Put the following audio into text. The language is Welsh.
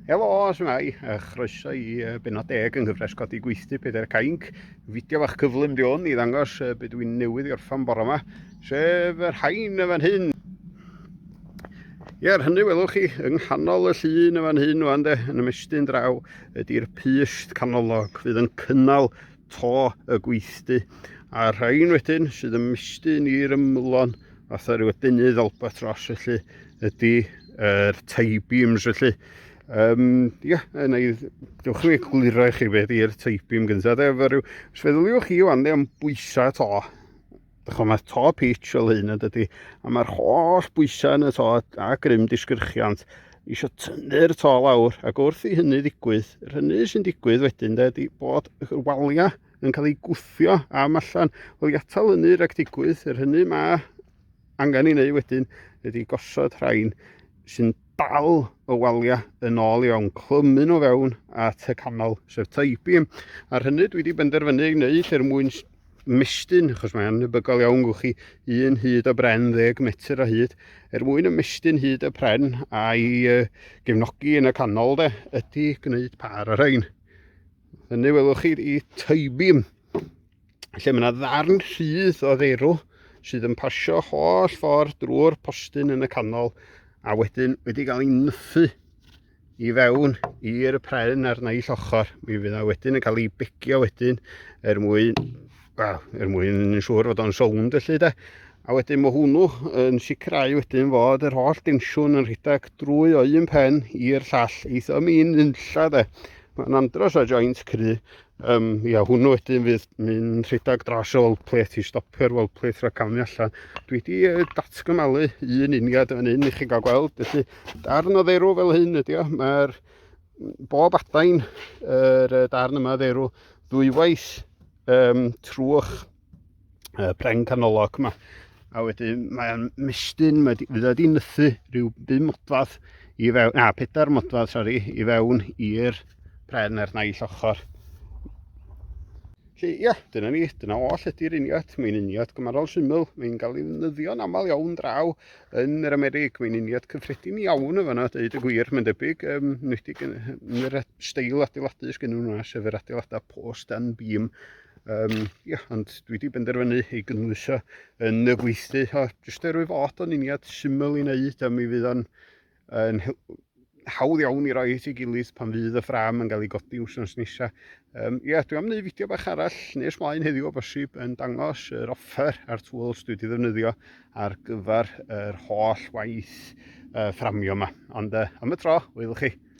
Helo, Swnau, a chroeso i benod deg yng nghyfres codi gweithdy Pedair Cainc. Fideo fach cyflym di hwn i ddangos beth dwi'n newydd i orffan bore yma, sef yr hain y fan hyn. Ie, ar hynny welwch chi, yng nghanol y llun y fan hyn, wan de, yn ymestyn draw, ydy'r pyst canolog fydd yn cynnal to y gweithdy, a rhain wedyn sydd yn mestyn i'r ymylon fatha rhyw adenydd albatros felly ydy yr er taibiums felly. Um, ia, yna i dewch i egluro i chi beth i'r teipim gyntaf. Efo rhyw, os feddyliwch chi wan, am bwysau to, Dych chi'n mae'r to pitch fel hyn ydy, dydy, a mae'r holl bwysau yn y to a grym disgyrchiant eisiau tynnu'r to lawr, ac wrth i hynny ddigwydd, yr hynny sy'n digwydd wedyn, de, ydy bod y waliau yn cael eu gwthio am allan. Wel, i atal hynny rhag digwydd, yr hynny mae angen ei wneud wedyn ydy gosod rhain sy'n dal y waliau yn ôl i fewn, clymu nhw fewn at y canol, sef Taibim. Ar hynny dwi wedi benderfynu ei wneud er mwyn mestyn, achos mae'n nybygol iawn gwch chi, un hyd o bren, ddeg metr o hyd, er mwyn y mestyn hyd y pren a'i uh, gefnogi yn y canol de, ydy gwneud par ar ein. Hynny welwch chi i Taibim. lle mae yna ddarn rhydd o ddeirw sydd yn pasio holl ffordd drwy'r postyn yn y canol a wedyn wedi cael ei nyffu i fewn i'r pren a'r naill ochr. Mi fydd yna wedyn yn cael ei begio wedyn er mwyn, well, er mwyn yn siŵr fod o'n sownd felly de. A wedyn mae hwnnw yn sicrhau wedyn fod yr holl densiwn yn rhedeg drwy o un pen i'r llall eitha mi'n unlla de. Mae'n andros o joint cry, Um, ia, hwnnw wedyn fydd mynd rhedeg dros y weld plate i stopio'r weld plate rhag camu allan. Dwi wedi uh, datgymalu un uniad yn un i chi gael gweld, felly darn o dderw fel hyn ydy o. Mae'r bob adain yr uh, darn yma dderw ddwywaith um, trwch y pren canolog yma. A wedyn mae'n mestyn, mae wedi wedi nythu rhyw bum modfadd i fewn, na, pedair modfadd, sori, i fewn i'r pren ar naill ochr. Felly, ia, dyna ni, dyna oll ydy'r uniad. Mae'n uniad gymarol syml, mae'n cael ei ddefnyddio'n aml iawn draw yn yr Amerig. Mae'n uniad cyffredin iawn o fanna, dweud y gwir, mae'n debyg, um, nwydig yn, yn yr steil adeiladu sgyn nhw'n yna, sef yr adeiladau post and beam Um, ia, ond dwi wedi benderfynu ei gynwyso yn y gweithdy, o, jyst er wyf fod o'n uniad syml i wneud, a mi fydd o'n yn hawdd iawn i roi at ei gilydd pan fydd y ffram yn cael ei godi wsnos nesaf. Um, ia, dwi am wneud fideo bach arall nes mlaen heddiw o bosib yn dangos yr offer a'r tools dwi wedi ddefnyddio ar gyfer yr holl waith uh, fframio yma. Ond uh, am y tro, wylwch chi.